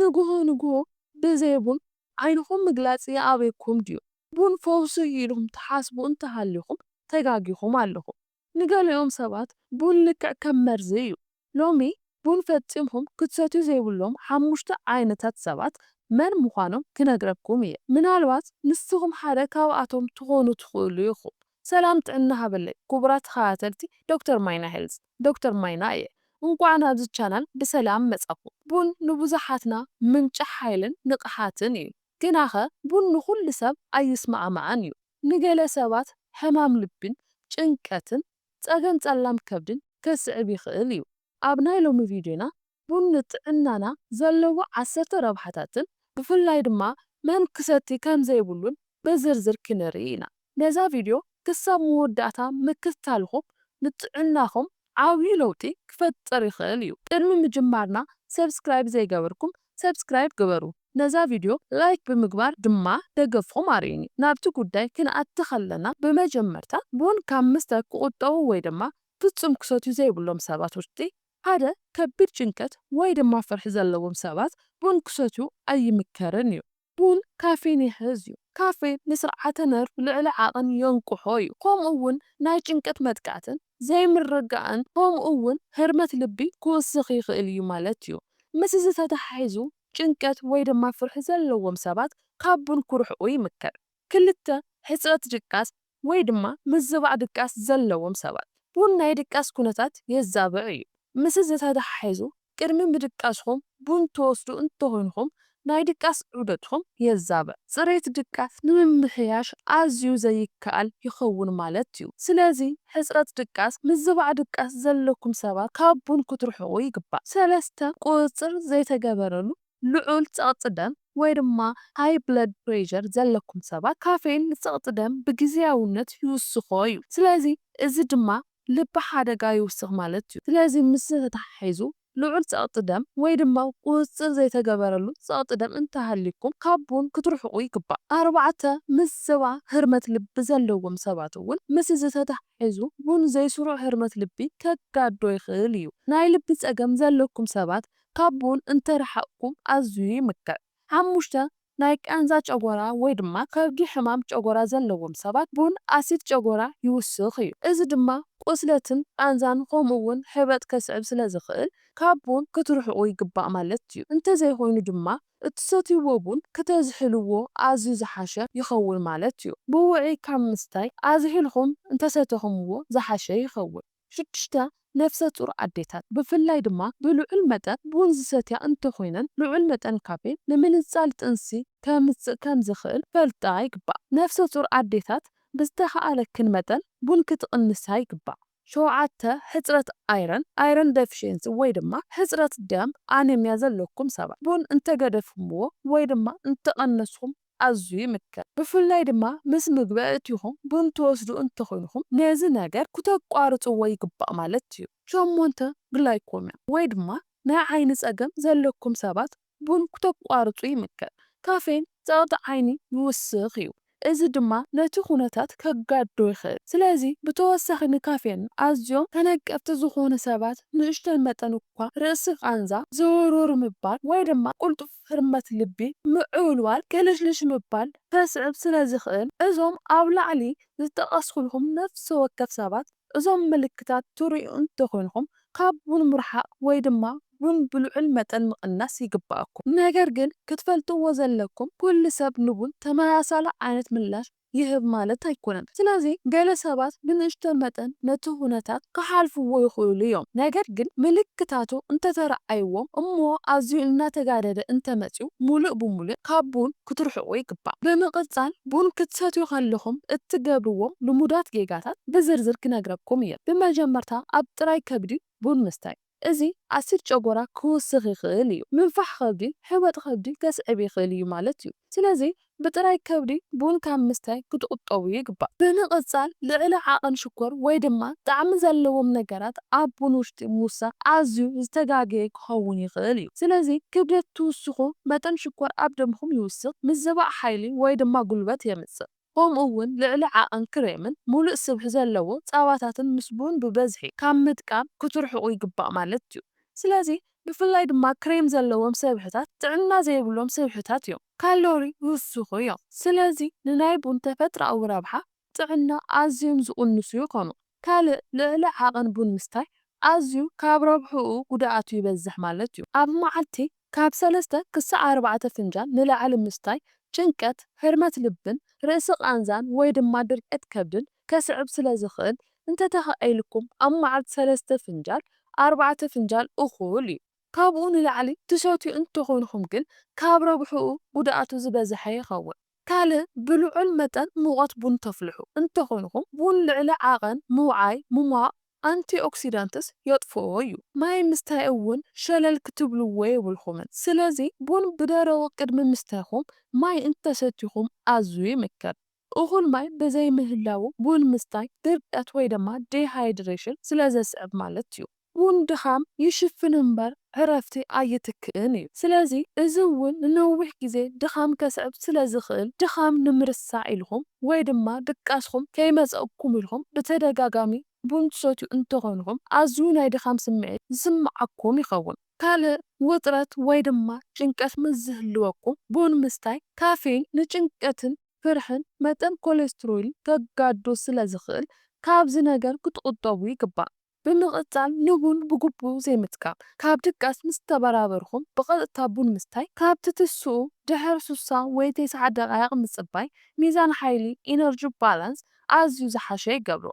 ንግሆ ንግሆ ብዘይ ቡን ዓይንኹም ምግላጽ ይኣብየኩም ድዩ? ቡን ፈውሲ'ዩ ኢልኩም ትሓስቡ እንተሃሊኹም ተጋጊኹም ኣለኹም። ንገሊኦም ሰባት ቡን ልክዕ ከም መርዚ እዩ። ሎሚ ቡን ፈጺምኩም ክትሰትዩ ዘይብሎም ሓሙሽተ ዓይነታት ሰባት መን ምዃኖም ክነግረኩም እየ። ምናልባት ንስኹም ሓደ ካብኣቶም ትኾኑ ትኽእሉ ኢኹም። ሰላም ጥዕና ሃበለይ ኩቡራት ተከታተልቲ ዶክተር ማይና ሄልዝ ዶክተር ማይና እየ እንኳዕ ናብዚ ቻናል ብሰላም መፃኩም ቡን ንቡዛሓትና ምንጪ ሓይልን ንቅሓትን እዩ ግናከ ቡን ንኩሉ ሰብ ኣይስማዕማዕን እዩ ንገለ ሰባት ሕማም ልቢን ጭንቀትን ፀገም ፀላም ከብድን ከስዕብ ይክእል እዩ ኣብ ናይ ሎሚ ቪድዮና ቡን ንጥዕናና ዘለዎ ዓሰርተ ረብሓታትን ብፍላይ ድማ መን ክሰቲ ከም ዘይብሉን ብዝርዝር ክንርኢ ኢና። ነዛ ቪድዮ ክሳብ መወዳእታ ምክትታልኹም ንጥዕናኹም ዓብዩ ለውጢ ክፈጥር ይኽእል እዩ። ቅድሚ ምጅማርና ሰብስክራይብ ዘይገበርኩም ሰብስክራይብ ግበሩ፣ ነዛ ቪድዮ ላይክ ብምግባር ድማ ደገፍኹም ኣርእዩኒ። ናብቲ ጉዳይ ክንኣቲ ከለና ብመጀመርታ ቡን ካብ ምስታይ ክቑጠቡ ወይ ድማ ፍጹም ክሰትዩ ዘይብሎም ሰባት ውሽጢ ሓደ ከቢድ ጭንቀት ወይ ድማ ፍርሒ ዘለዎም ሰባት ቡን ክሰትዩ ኣይምከርን እዩ። ቡን ካፌን ይሕዝ እዩ። ካፌን ንስርዓተ ነርቭ ልዕሊ ዓቕን የንቅሖ እዩ፣ ከምኡ እውን ናይ ጭንቀት መጥቃዕትን ዘይምርግጋእን ከምኡ እውን ህርመት ልቢ ክውስኽ ይኽእል እዩ ማለት እዩ። ምስ እዚ ተተሓሒዙ ጭንቀት ወይ ድማ ፍርሒ ዘለዎም ሰባት ካብ ቡን ክርሕቁ ይምከር። ክልተ፣ ሕጽረት ድቃስ ወይ ድማ ምዝባዕ ድቃስ ዘለዎም ሰባት ቡን ናይ ድቃስ ኩነታት የዛብዕ እዩ። ምስዚ ተተሓሒዙ ቅድሚ ምድቃስኹም ቡን ትወስዱ እንተኾይንኹም ናይ ድቃስ ዑደትኹም የዛብዕ። ፅሬት ድቃስ ንምምሕያሽ ኣዝዩ ዘይከኣል ይኸውን ማለት እዩ። ስለዚ ሕፅረት ድቃስ፣ ምዝባዕ ድቃስ ዘለኩም ሰባት ካብ ቡን ክትርሕቑ ይግባእ። ሰለስተ፣ ቁፅፅር ዘይተገበረሉ ልዑል ጸቕጢ ደም ወይ ድማ High Blood Pressure ዘለኩም ሰባት ካፌይን ንጸቕጢ ደም ብግዝያውነት ይውስኾ እዩ። ስለዚ እዚ ድማ ልቢ ሓደጋ ይውስኽ ማለት እዩ። ስለዚ ምስዚ ተተሓሒዙ ልዑል ጸቕጢ ደም ወይ ድማ ቁጽጽር ዘይተገበረሉ ጸቕጢ ደም እንተሃልዩኩም ካብ ቡን ክትርሕቁ ይግባእ። ኣርባዕተ፣ ምስ ዝባ ህርመት ልቢ ዘለዎም ሰባት እውን ምስ እዚ ተተሓሒዙ ቡን ዘይስሩዕ ህርመት ልቢ ከጋድዶ ይኽእል እዩ። ናይ ልቢ ጸገም ዘለኩም ሰባት ካብ ቡን እንተረሓቕኩም ኣዝዩ ይምከር። ሓሙሽተ፣ ናይ ቃንዛ ጨጎራ ወይ ድማ ከብዲ ሕማም ጨጎራ ዘለዎም ሰባት ቡን ኣሲድ ጨጎራ ይውስኽ እዩ። እዚ ድማ ቁስለትን ቃንዛን ከምኡ እውን ሕበጥ ከስዕብ ስለዝኽእል ካብ ቡን ክትርሕቑ ይግባእ ማለት እዩ። እንተዘይኾይኑ ድማ እትሰትይዎ ቡን ክተዝሕልዎ ኣዝዩ ዝሓሸ ይኸውን ማለት እዩ። ብውዕይ ካብ ምስታይ ኣዝሒልኹም እንተሰተኹምዎ ዝሓሸ ይኸውን። ሽዱሽተ፣ ነፍሰ ፁር ኣዴታት ብፍላይ ድማ ብልዑል መጠን ቡን ዝሰትያ እንተኾይነን ልዑል መጠን ካፌን ንምንፃል ጥንሲ ከምፅእ ከምዝኽእል ክፈልጣ ይግባእ። ነፍሰ ፁር ኣዴታት ብዝተኽኣለክን መጠን ቡን ክትቕንሳ ይግባእ። ሸውዓተ፣ ሕፅረት ኣይረን፣ Iron Deficiency፣ ወይ ድማ ሕፅረት ደም፣ ኣነሚያ፣ ዘለኩም ሰባት ቡን እንተገደፍኹምዎ ወይ ድማ እንተቐነስኹም ኣዝዩ ይምከር። ብፍላይ ድማ ምስ ምግቢ ኣእቲኹም ቡን ትወስዱ እንተኾይንኩም ነዚ ነገር ኩተቋርጽዎ ይግባእ ማለት እዩ። ሸሞንተ፣ ግላይኮምያ ወይ ድማ ናይ ዓይኒ ጸገም ዘለኩም ሰባት ቡን ኩተቋርጹ ይምከር። ካፌን ጸቕጢ ዓይኒ ይውስኽ እዩ፣ እዚ ድማ ነቲ ኩነታት ከጋድዶ ይኽእል። ስለዚ ብተወሳኺ ንካፌን ኣዝዮም ተነቀፍቲ ዝኾኑ ሰባት ንእሽቶይ መጠን እኳ ርእሲ ቃንዛ፣ ዝውርውር ምባል ወይ ድማ ቁልጡፍ ህርመት ልቢ፣ ምዕብልባል፣ ቅልሽልሽ ምባል ከስዕብ ስለ ዝኽእል፣ እዞም ኣብ ላዕሊ ዝጠቐስኩልኩም ነፍሲ ወከፍ ሰባት እዞም ምልክታት ትርእዩ እንተ ኾይንኩም ካብ ቡን ምርሓቕ ወይ ድማ ቡን ብልዑል መጠን ምቕናስ ይግበኣኩም። ነገር ግን ክትፈልጥዎ ዘለኩም ኩሉ ሰብ ንቡን ተመሳሳሊ ዓይነት ምላሽ ይህብ ማለት ኣይኮነን። ስለዚ ገለ ሰባት ብንእሽቶ መጠን ነቲ ዅነታት ክሓልፍዎ ይኽእሉ እዮም። ነገር ግን ምልክታቱ እንተ ተራኣይዎም እሞ ኣዝዩ እናተጋደደ እንተ መጺኡ ምሉእ ብምሉእ ካብ ቡን ክትርሕቁ ይግባእ። ብምቕጻል ቡን ክትሰትዩ ከለኹም እትገብርዎም ልሙዳት ጌጋታት ብዝርዝር ክነግረኩም እየ። ብመጀመርታ ኣብ ጥራይ ከብዲ ቡን ምስታይ። እዚ ኣሲድ ጨጎራ ክውስኽ ይኽእል እዩ፣ ምንፋሕ ከብዲ፣ ሕበጥ ከብዲ ከስዕብ ይኽእል እዩ ማለት እዩ። ስለዚ ብጥራይ ከብዲ ቡን ካብ ምስታይ ክትቑጠቡ ይግባእ። ብምቕጻል ልዕሊ ዓቐን ሽኮር ወይ ድማ ጣዕሚ ዘለዎም ነገራት ኣብ ቡን ውሽጢ ምውሳኽ ኣዝዩ ዝተጋገየ ክኸውን ይኽእል እዩ። ስለዚ ክብደት ትውስኹ መጠን ሽኮር ኣብ ደምኹም ይውስኽ፣ ምዝባዕ ሓይሊ ወይ ድማ ጉልበት የምጽእ። ከምኡ እውን ልዕሊ ዓቐን ክሬምን ሙሉእ ስብሒ ዘለዎ ፃባታትን ምስ ቡን ብበዝሒ ካብ ምጥቃም ክትርሕቑ ይግባእ ማለት እዩ። ስለዚ ብፍላይ ድማ ክሬም ዘለዎም ሰብሕታት ጥዕና ዘይብሎም ስብሕታት እዮም። ካሎሪ ይውስኹ እዮም። ስለዚ ንናይ ቡን ተፈጥራኣዊ ረብሓ ጥዕና ኣዝዮም ዝቕንሱ ይኾኑ። ካልእ ልዕሊ ዓቐን ቡን ምስታይ ኣዝዩ ካብ ረብሕኡ ጉድኣቱ ይበዝሕ ማለት እዩ። ኣብ መዓልቲ ካብ ሰለስተ ክሳዕ ኣርባዕተ ፍንጃል ንላዕሊ ምስታይ ጭንቀት፣ ህርመት ልብን ርእሲ ቃንዛን ወይ ድማ ድርቀት ከብድን ከስዕብ ስለ ዝኽእል እንተተኻኢልኩም ኣብ መዓልቲ ሰለስተ ፍንጃል ኣርባዕተ ፍንጃል እኹል እዩ። ካብኡ ንላዕሊ ትሰትዩ እንተኾንኹም ግን ካብ ረብሕኡ ጉድኣቱ ዝበዝሐ ይኸውን። ካልእ ብልዑል መጠን ሙቐት ቡን ተፍልሑ እንተኾይንኩም ቡን ልዕሊ ዓቐን ምውዓይ ሙሟቕ፣ ኣንቲኦክሲዳንትስ፣ የጥፍኦ እዩ። ማይ ምስታይ እውን ሸለል ክትብልዎ የብልኩምን። ስለዚ ቡን ብደረቑ ቅድሚ ምስትይኩም ማይ እንተሰቲኹም ኣዝዩ ይምከር። እኹል ማይ ብዘይምህላዉ ቡን ምስታይ ድርቀት ወይ ድማ ዲሃይድሬሽን ስለዘስዕብ ማለት እዩ። ውን ድኻም ይሽፍን እምበር ዕረፍቲ ኣይትክእን እዩ። ስለዚ እዚ ውን ንነዊሕ ግዜ ድኻም ከስዕብ ስለ ዝኽእል ድኻም ንምርሳዕ ኢልኩም ወይ ድማ ድቃስኩም ከይመጸኩም ኢልኩም ብተደጋጋሚ ቡን ትሰትዩ እንተኾንኩም ኣዝዩ ናይ ድኻም ስምዒት ዝስምዓኩም ይኸውን። ካልእ ውጥረት ወይ ድማ ጭንቀት ምስ ዝህልወኩም ቡን ምስታይ ካፌይን ንጭንቀትን ፍርሕን መጠን ኮሌስትሮይል ከጋድዶ ስለ ዝኽእል ካብዚ ነገር ክትቑጠቡ ይግባእ። ብምቕጻል ንቡን ብግቡእ ዘይምጥቃም፣ ካብ ድቃስ ምስ ተበራበርኩም ብቐጥታ ቡን ምስታይ፣ ካብ ትትስኡ ድሕሪ ሱሳ ወይ ተስዓ ደቓይቕ ምጽባይ ሚዛን ሓይሊ፣ ኢነርጂ ባላንስ፣ ኣዝዩ ዝሓሸ ይገብሮ።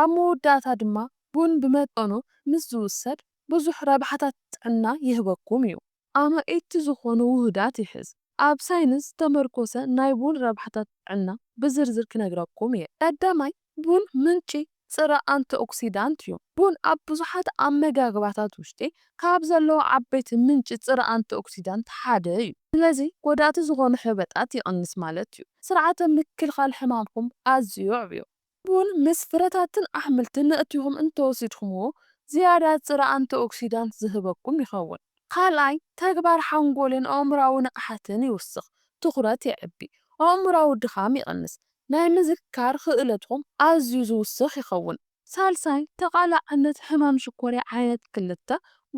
ኣብ መወዳእታ ድማ ቡን ብመጠኑ ምስ ዝውሰድ ብዙሕ ረብሓታት ጥዕና ይህበኩም እዩ። ኣማኢቲ ዝኾኑ ውሁዳት ይሕዝ። ኣብ ሳይንስ ዝተመርኮሰ ናይ ቡን ረብሓታት ጥዕና ብዝርዝር ክነግረኩም እየ። ቀዳማይ፣ ቡን ምንጪ ጽረ ኣንቲኦክሲዳንት እዩ። ቡን ኣብ ብዙሓት ኣመጋግባታት ውሽጢ ካብ ዘለዉ ዓበይቲ ምንጪ ጽረ ኣንቲኦክሲዳንት ሓደ እዩ። ስለዚ ጎዳእቲ ዝኾኑ ሕበጣት ይቕንስ ማለት እዩ። ስርዓተ ምክልኻል ሕማምኩም ኣዝዩ የዕብዮ። ቡን ምስ ፍረታትን ኣሕምልትን ነእቲኹም እንተወሲድኩምዎ ዝያዳ ጽረ ኣንቲኦክሲዳንት ዝህበኩም ይኸውን። ካልኣይ፣ ተግባር ሓንጎልን ኣእምሮኣዊ ንቕሓትን ይውስኽ፣ ትኹረት የዕቢ፣ ኣእምሮኣዊ ድኻም ይቕንስ፣ ናይ ምዝካር ክእለትኩም ኣዝዩ ዝውስኽ ይኸውን። ሳልሳይ፣ ተቓላዕነት ሕማም ሽኮርያ ዓይነት ክልተ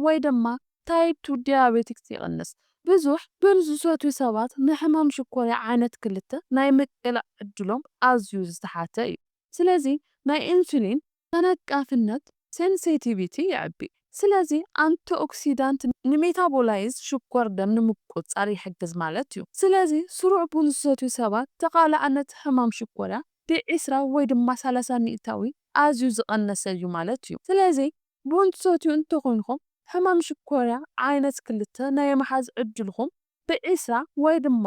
ወይ ድማ ታይፕ ቱ ዲያቤቲክስ ይቕንስ። ብዙሕ ዱር ዝሰትዩ ሰባት ንሕማም ሽኮርያ ዓይነት ክልተ ናይ ምቅላዕ ዕድሎም ኣዝዩ ዝተሓተ እዩ። ስለዚ ናይ ኢንሱሊን። ተነቃፍነት፣ ሴንሴቲቪቲ፣ የዕቢ። ስለዚ ኣንቲኦክሲዳንት ንሜታቦላይዝ ሽኮር ደም ንምቁጽጻር ይሕግዝ ማለት እዩ። ስለዚ ስሩዕ ቡን ዝሰትዩ ሰባት ተቓላዕነት ሕማም ሽኮርያ ብዒስራ ወይ ድማ ሰላሳ ሚእታዊ ኣዝዩ ዝቐነሰ እዩ ማለት እዩ። ስለዚ ቡን ትሰትዩ እንተኾይንኩም ሕማም ሽኮርያ ዓይነት ክልተ ናይ ምሓዝ ዕድልኹም ብዒስራ ወይ ድማ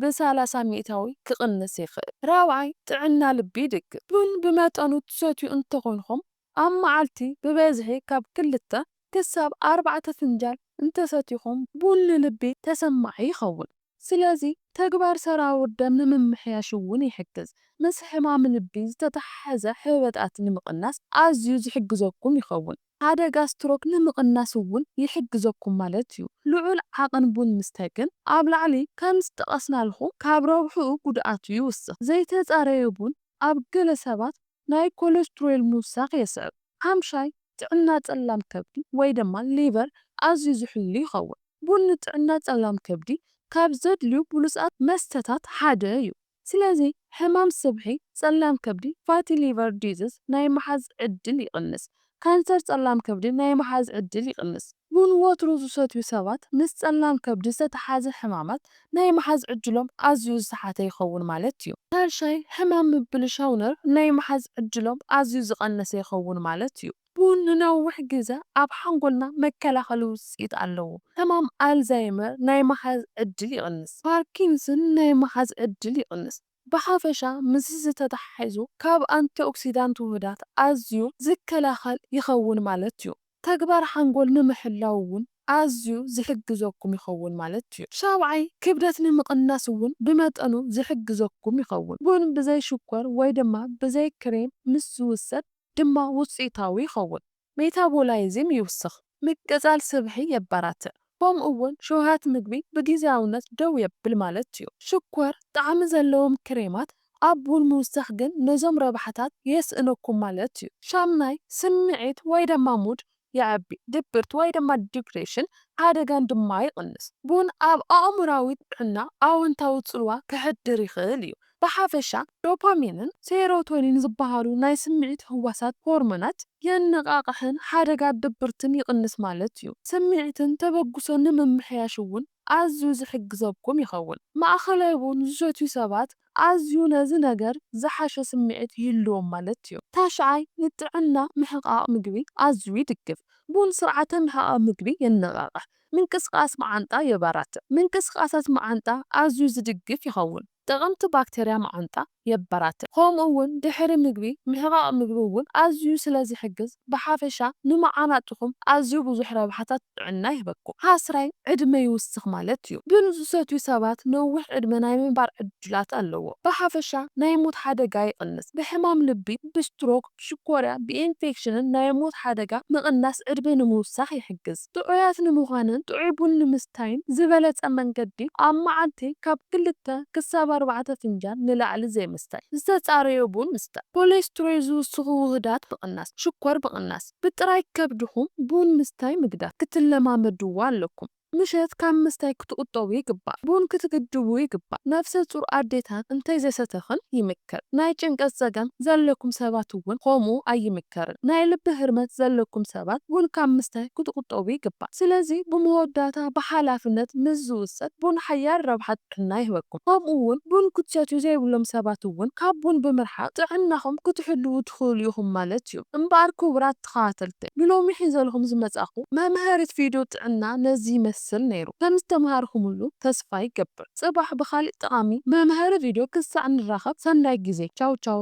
ብሳላሳ ሚእታዊ ክቕንስ ይኽእል። ራብዓይ፣ ጥዕና ልቢ ይድግፍ። ቡን ብመጠኑ ትሰትዩ እንተኾይንኩም ኣብ መዓልቲ ብበዝሒ ካብ ክልተ ክሳብ ኣርባዕተ ፍንጃል እንተሰቲኹም ቡን ንልቢ ተሰማዒ ይኸውን። ስለዚ ተግባር ሰራውር ደም ንምምሕያሽ እውን ይሕግዝ። ምስ ሕማም ልቢ ዝተተሓሓዘ ሕበጣት ንምቕናስ ኣዝዩ ዝሕግዘኩም ይኸውን። ሓደጋ ስትሮክ ንምቕናስ እውን ይሕግዘኩም ማለት እዩ። ልዑል ዓቕን ቡን ምስታይ ግን ኣብ ላዕሊ ከም ዝጠቐስናልኹም ካብ ረብሕኡ ጉድኣቱ ይውስኽ። ዘይተጻረየ ቡን ኣብ ገለ ሰባት ናይ ኮለስትሮል ምውሳኽ የስዕብ። ሓምሻይ፣ ጥዕና ጸላም ከብዲ ወይ ድማ ሊቨር ኣዝዩ ዝሕሉ ይኸውን። ቡን ንጥዕና ጸላም ከብዲ ካብ ዘድልዩ ብሉጻት መስተታት ሓደ እዩ። ስለዚ ሕማም ስብሒ ጸላም ከብዲ፣ Fatty Liver Disease፣ ናይ ምሓዝ ዕድል ይቕንስ። ካንሰር ጸላም ከብዲ ናይ ምሓዝ ዕድል ይቕንስ። ቡን ወትሩ ዝሰትዩ ሰባት ምስ ጸላም ከብዲ ዝተተሓሓዘ ሕማማት ናይ ምሓዝ ዕድሎም ኣዝዩ ዝተሓተ ይኸውን ማለት እዩ። ሻይ ሕማም ምብልሻው ነርቭ ናይ ምሓዝ ዕድሎም ኣዝዩ ዝቐነሰ ይኸውን ማለት እዩ። ቡን ንነዊሕ ግዘ ኣብ ሓንጎልና መከላኸሊ ውጽኢት ኣለዎ። ሕማም ኣልዛይመር ናይ ምሓዝ ዕድል ይቕንስ። ፓርኪንስን ናይ ምሓዝ ዕድል ይቕንስ። ብሓፈሻ ምስዚ ዝተተሓሒዙ ካብ ኣንቲኦክሲዳንት ውሁዳት ኣዝዩ ዝከላኸል ይኸውን ማለት ዩ። ተግባር ሓንጎል ንምሕላው ውን ኣዝዩ ዝሕግዘኩም ይኸውን ማለት ዩ። ሻብዓይ፣ ክብደት ንምቕናስ ውን ብመጠኑ ዝሕግዘኩም ይኸውን። ቡን ብዘይ ሽኮር ወይ ድማ ብዘይ ክሬም ምስ ዝውሰድ ድማ ውፅኢታዊ ይኸውን። ሜታቦላይዝም ይውስኽ፣ ምቅጻል ስብሒ የበራትዕ፣ ከምኡ'ውን ሸውሃት ምግቢ ብጊዝያውነት ደው የብል ማለት እዩ። ሽኮር ጣዕሚ ዘለዎም ክሬማት ኣብ ቡን ምውሳኽ ግን ነዞም ረብሓታት የስእነኩም ማለት እዩ። ሻምናይ፣ ስምዒት ወይ ደማ ሙድ የዕቢ፣ ድብርት ወይ ደማ ዲፕሬሽን ሓደጋን ድማ ይቕንስ። ቡን ኣብ ኣእምሮኣዊ ጥዕና ኣወንታዊ ጽልዋ ከሕድር ይኽእል እዩ፣ ብሓፈሻ ዶፓሚንን ሴሮቶኒን ዝበሃሉ ናይ ስምዒት ህዋሳት ሆርሞናት የነቓቕሕን ሓደጋ ድብርትን ይቕንስ ማለት እዩ። ስምዒትን ተበግሶን ንምምሕያሽ እውን ኣዝዩ ዝሕግዘኩም ይኸውን። ማእከላይ ቡን ዝሰትዩ ሰባት ኣዝዩ ነዚ ነገር ዝሓሸ ስምዒት ይህልዎም ማለት እዩ። ታሽዓይ፣ ንጥዕና ምሕቓቕ ምግቢ ኣዝዩ ይድግፍ። ቡን ስርዓተ ምሕቓቕ ምግቢ የነቓቕሕ፣ ምንቅስቓስ መዓንጣ የበራትዕ። ምንቅስቓሳት መዓንጣ ኣዝዩ ዝድግፍ ይኸውን። ጠቐምቲ ባክተርያ መዓንጣ የበራትዕ፣ ከምኡ እውን ድሕሪ ምግቢ ምሕቓቕ ምግቢ እውን ኣዝዩ ስለ ዝሕግዝ ብሓፈሻ ንመዓናጡኹም ኣዝዩ ብዙሕ ረብሓታት ጥዕና ይህበኩም። ሓስራይ ዕድመ ይውስኽ ማለት እዩ። ቡን ዝሰትዩ ሰባት ነዊሕ ዕድመ ናይ ምንባር ዕድላት ኣለዎም። ብሓፈሻ ናይ ሞት ሓደጋ ይቕንስ፣ ብሕማም ልቢ፣ ብስትሮክ፣ ሽኮርያ ብኢንፌክሽንን ናይ ሞት ሓደጋ ምቕናስ ዕድመ ንምውሳኽ ይሕግዝ። ጥዑያት ንምዃንን ጥዑይ ቡን ንምስታይን ዝበለጸ መንገዲ ኣብ መዓልቲ ካብ ክልተ ክሳብ ኣርባዕተ ፍንጃል ንላዕሊ ዘይምስታይ። ዝተጻረየ ቡን ምስታይ ኮሌስትሮይ ዝውስኹ ውሁዳት ምቕናስ፣ ሽኮር ምቕናስ። ብጥራይ ከብድኹም ቡን ምስታይ ምግዳፍ ክትለማመድዎ ኣለኩም። ምሸት ካብ ምስታይ ክትቁጠቡ ይግባእ። ቡን ክትግድቡ ይግባእ። ነፍሰ ጹር ኣዴታት እንተይ ዘሰተክን ይምከር። ናይ ጭንቀት ጸገም ዘለኩም ሰባት እውን ኮምኡ ኣይምከርን። ናይ ልቢ ህርመት ዘለኩም ሰባት ቡን ካብ ምስታይ ክትቁጠቡ ይግባእ። ስለዚ ብመወዳእታ ብሓላፍነት ምስ ዝውሰድ ቡን ሓያል ረብሓ ጥዕና ይህበኩም። ከምኡ እውን ቡን ክትሰትዩ ዘይብሎም ሰባት እውን ካብ ቡን ብምርሓቅ ጥዕናኩም ክትሕልዉ ትክእሉ ኢኩም ማለት እዩ። እምበኣር ክቡራት። ተኸታተልቲ ንሎሚ ሒዘልኹም ዝመጻኹ መምሀሪት ቪድዮ ጥዕና ነዚ ይመስል ነይሩ ከም ዝተምሃርኹምሉ ተስፋ ይገብር ጽባሕ ብኻሊእ ጠቓሚ መምሀሪ ቪድዮ ክሳዕ ንራኸብ ሰናይ ግዜ ቻው ቻው።